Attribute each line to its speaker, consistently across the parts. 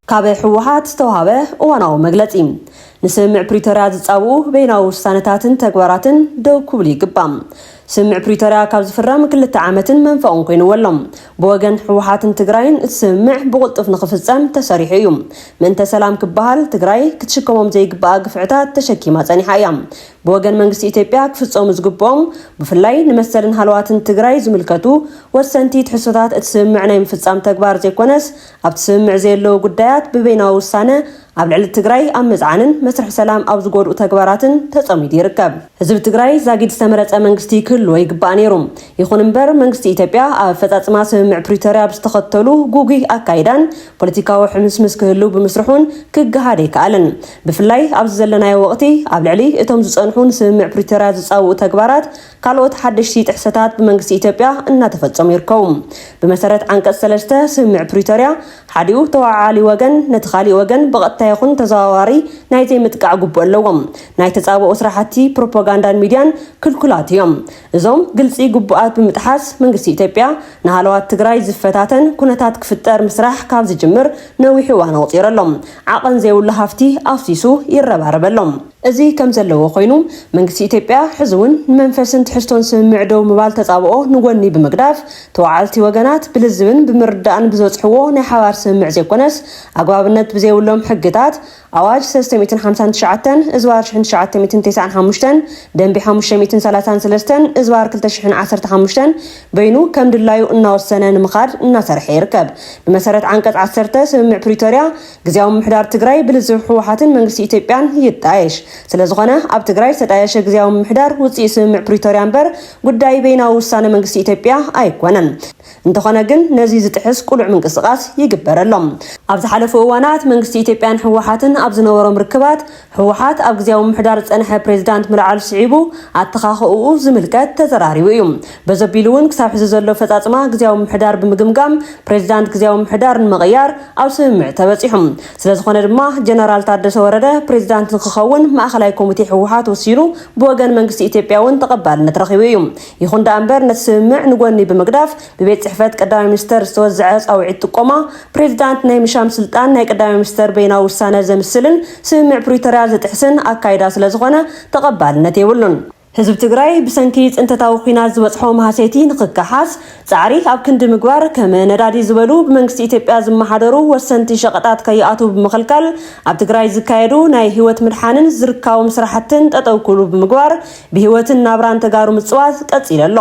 Speaker 1: ካብ ህወሓት ዝተዋሃበ እዋናዊ መግለፂ ንስምምዕ ፕሪቶርያ ዝፃብኡ በይናዊ ውሳነታትን ተግባራትን ደው ክብሉ ይግባእ። ስምምዕ ፕሪቶርያ ካብ ዝፍረም ክልተ ዓመትን መንፈቕን ኮይንዎ ኣሎ። ብወገን ህወሓትን ትግራይን እቲ ስምምዕ ብቕልጡፍ ንኽፍፀም ተሰሪሑ እዩ። ምእንተ ሰላም ክበሃል ትግራይ ክትሽከሞም ዘይግበኣ ግፍዕታት ተሸኪማ ፀኒሓ እያ። ብወገን መንግስቲ ኢትዮጵያ ክፍፀሙ ዝግበኦም ብፍላይ ንመሰልን ሃለዋትን ትግራይ ዝምልከቱ ወሰንቲ ትሕዝቶታት እቲ ስምምዕ ናይ ምፍፃም ተግባር ዘይኮነስ ኣብቲ ስምምዕ ዘየለዉ ጉዳያት ብበይናዊ ውሳነ ኣብ ልዕሊ ትግራይ ኣብ ምፅዓንን መስርሕ ሰላም ኣብ ዝጎድኡ ተግባራትን ተፀሚዱ ይርከብ። ህዝቢ ትግራይ ዛጊድ ዝተመረፀ መንግስቲ ክህልዎ ይግባእ ነይሩ። ይኹን እምበር መንግስቲ ኢትዮጵያ ኣብ ኣፈፃፅማ ስምምዕ ፕሪቶርያ ብዝተኸተሉ ጉጉይ ኣካይዳን ፖለቲካዊ ሕምስምስ ክህልው ብምስርሑን ክገሃድ ኣይከኣለን። ብፍላይ ኣብዚ ዘለናዮ ወቕቲ ኣብ ልዕሊ እቶም ዝፀንሑ ንስምምዕ ፕሪቶርያ ዝፃውኡ ተግባራት ካልኦት ሓደሽቲ ጥሕሰታት ብመንግስቲ ኢትዮጵያ እናተፈፀሙ ይርከቡ። ብመሰረት ዓንቀፅ ሰለስተ ስምምዕ ፕሪቶርያ ሓዲኡ ተወዓዓሊ ወገን ነቲ ካሊእ ወገን ብቐጥታ ይኹን ተዘዋዋሪ ናይ ዘይምጥቃዕ ግቡእ ኣለዎም። ናይ ተፃብኦ ስራሕቲ ፕሮፓጋንዳን ሚድያን ክልኩላት እዮም። እዞም ግልፂ ግቡኣት ብምጥሓስ መንግስቲ ኢትዮጵያ ንሃለዋት ትግራይ ዝፈታተን ኩነታት ክፍጠር ምስራሕ ካብ ዝጅምር ነዊሕ እዋን ኣቑፂሩ ኣሎ። ዓቐን ዘይብሉ ሃፍቲ ኣፍሲሱ ይረባረበሎም። እዚ ከም ዘለዎ ኮይኑ፣ መንግስቲ ኢትዮጵያ ሕዚ እውን ንመንፈስን ትሕዝቶን ስምምዕ ደው ምባል ተጻብኦ ንጎኒ ብምግዳፍ፣ ተወዓልቲ ወገናት ብልዝብን ብምርዳእን ብዘጽሕዎ ናይ ሓባር ስምምዕ ዘይኮነስ፣ ኣግባብነት ብዘይብሎም ሕግታት፣ ኣዋጅ ሰለስተ ሚእትን ሓምሳን ትሽዓተን እዝባር ሽሕን ትሽዓተ ሚእትን ቴስዓን ሓሙሽተን፣ ደንቢ ሓሙሽተ ሚእትን ሰላሳን ሰለስተን እዝባር ክልተ ሽሕን ዓሰርተ ሓሙሽተን፣ በይኑ ከምድላዩ እናወሰነ ንምኻድ እናሰርሐ ይርከብ። ብመሰረት ዓንቀጽ ዓሰርተ ስምምዕ ፕሪቶርያ፣ ግዝያዊ ምምሕዳር ትግራይ ብልዝብ ህወሓትን መንግስቲ ኢትዮጵያን ይጣየሽ። ስለዝኾነ ኣብ ትግራይ ዝተጣየሸ ግዝያዊ ምምሕዳር ውፅኢት ስምምዕ ፕሪቶርያ እምበር ጉዳይ በይናዊ ውሳነ መንግስቲ ኢትዮጵያ ኣይኮነን። እንተኾነ ግን ነዚ ዝጥሕስ ቁሉዕ ምንቅስቓስ ይግበረሎም። ኣብ ዝሓለፉ እዋናት መንግስቲ ኢትዮጵያን ህወሓትን ኣብ ዝነበሮም ርክባት ህወሓት ኣብ ግዝያዊ ምምሕዳር ዝፀንሐ ፕሬዚዳንት ምልዓሉ ስዒቡ ኣተኻኽእኡ ዝምልከት ተዘራሪቡ እዩ። በዘቢሉ እውን ክሳብ ሕዚ ዘሎ ኣፈፃፅማ ግዝያዊ ምምሕዳር ብምግምጋም ፕሬዚዳንት ግዝያዊ ምምሕዳር ንምቕያር ኣብ ስምምዕ ተበፂሑ። ስለዝኾነ ድማ ጀነራል ታደሰ ወረደ ፕሬዚዳንት ንክኸውን ማእኸላይ ኮሚቴ ህወሓት ወሲኑ ብወገን መንግስቲ ኢትዮጵያ እውን ተቐባልነት ረኺቡ እዩ። ይኹን ደኣ እምበር ነቲ ስምምዕ ንጎኒ ብምግዳፍ ብቤት ጽሕፈት ቀዳማይ ሚኒስተር ዝተወዝዐ ጻውዒት ጥቆማ ፕሬዚዳንት ናይ ምሻም ስልጣን ናይ ቀዳማይ ሚኒስተር በይናዊ ውሳነ ዘምስልን ስምምዕ ፕሪቶርያ ዝጥሕስን ኣካይዳ ስለዝኾነ ተቐባልነት የብሉን። ህዝቢ ትግራይ ብሰንኪ ፅንተታዊ ኹናት ዝበፅሖ ማህሰይቲ ንኽከሓስ ፃዕሪ ኣብ ክንዲ ምግባር ከም ነዳዲ ዝበሉ ብመንግስቲ ኢትዮጵያ ዝመሓደሩ ወሰንቲ ሸቐጣት ከይኣትዉ ብምኽልካል ኣብ ትግራይ ዝካየዱ ናይ ህይወት ምድሓንን ዝርካቦም ስራሕትን ጠጠው ክብሉ ብምግባር ብህይወትን ናብራን ተጋሩ ምፅዋት ቀፂሉ ኣሎ።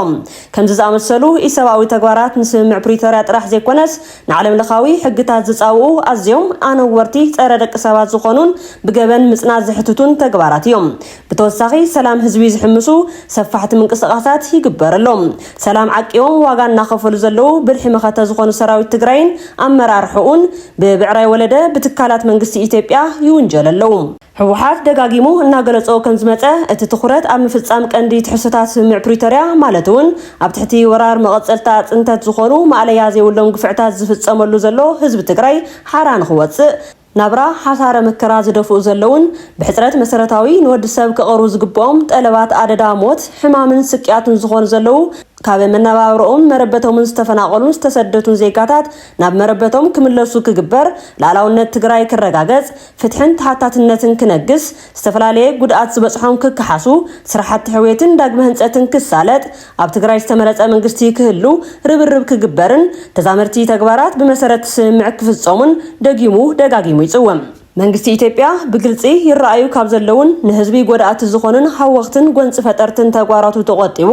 Speaker 1: ከምዚ ዝኣመሰሉ ኢሰብኣዊ ተግባራት ንስምምዕ ፕሪቶርያ ጥራሕ ዘይኮነስ ንዓለምለኻዊ ሕግታት ዝፃውኡ ኣዝዮም ኣነወርቲ ፀረ ደቂ ሰባት ዝኾኑን ብገበን ምፅናት ዘሕትቱን ተግባራት እዮም። ብተወሳኺ ሰላም ህዝቢ ዝሕምሱ ሰፋሕቲ ምንቅስቓሳት ይግበረሎም። ሰላም ዓቂቦም ዋጋ እናኸፈሉ ዘለዉ ብልሒ መኸተ ዝኾኑ ሰራዊት ትግራይን ኣመራርሕኡን ብብዕራይ ወለደ ብትካላት መንግስቲ ኢትዮጵያ ይውንጀሉ ኣለዉ። ህወሓት ደጋጊሙ እናገለፆ ከምዝመፀ እቲ ትኹረት ኣብ ምፍፃም ቀንዲ ትሕዝቶታት ስምምዕ ፕሪቶርያ ማለት እውን ኣብ ትሕቲ ወራር መቐፀልታ ፅንተት ዝኾኑ ማእለያ ዘይብሎም ግፍዕታት ዝፍፀመሉ ዘሎ ህዝቢ ትግራይ ሓራ ንኽወፅእ ናብራ ሓሳረ መከራ ዝደፍኡ ዘለዉን ብሕፅረት መሰረታዊ ንወዲ ሰብ ክቐርቡ ዝግበኦም ጠለባት ኣደዳ ሞት ሕማምን ስቅያትን ዝኾኑ ዘለዉ ካብ መነባብረኡም መረበቶምን ዝተፈናቐሉን ዝተሰደቱን ዜጋታት ናብ መረበቶም ክምለሱ ክግበር ልኣላውነት ትግራይ ክረጋገፅ ፍትሕን ተሓታትነትን ክነግስ፣ ዝተፈላለየ ጉድኣት ዝበፅሖም ክከሓሱ፣ ስራሕቲ ሕውየትን ዳግመ ህንፀትን ክሳለጥ፣ ኣብ ትግራይ ዝተመረፀ መንግስቲ ክህሉ ርብርብ ክግበርን ተዛመድቲ ተግባራት ብመሰረት ስምምዕ ክፍፀሙን ደጊሙ ደጋጊሙ ይፅውም። መንግስቲ ኢትዮጵያ ብግልፂ ይረኣዩ ካብ ዘለዉን ንህዝቢ ጎዳእቲ ዝኾኑን ሃወኽትን ጎንፂ ፈጠርትን ተግባራቱ ተቖጢቡ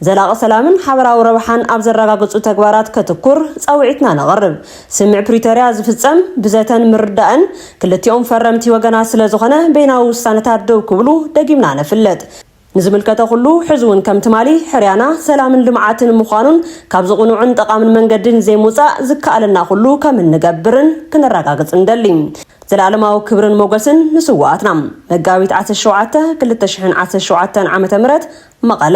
Speaker 1: ዘላቒ ሰላምን ሓበራዊ ረብሓን ኣብ ዘረጋግፁ ተግባራት ከትኩር ፃውዒትና ነቕርብ። ስምምዕ ፕሪቶርያ ዝፍፀም ብዘተን ምርዳእን ክልቲኦም ፈረምቲ ወገናት ስለዝኾነ በይናዊ ውሳነታት ደው ክብሉ ደጊምና ነፍልጥ። ንዝምልከተ ኩሉ ሕዚ እውን ከም ትማሊ ሕርያና ሰላምን ልምዓትን ምዃኑን ካብዚ ቅኑዕን ጠቓምን መንገዲ ንዘይምውፃእ ዝከኣለና ኩሉ ከም እንገብርን ክነረጋግፅ ንደሊ። ዘለኣለማዊ ክብርን ሞገስን ንስውኣትና! መጋቢት ዓሰርተ ሸውዓተ ክልተ ሽሕን ዓሰርተ ሸውዓተን ዓ.ም መቐለ።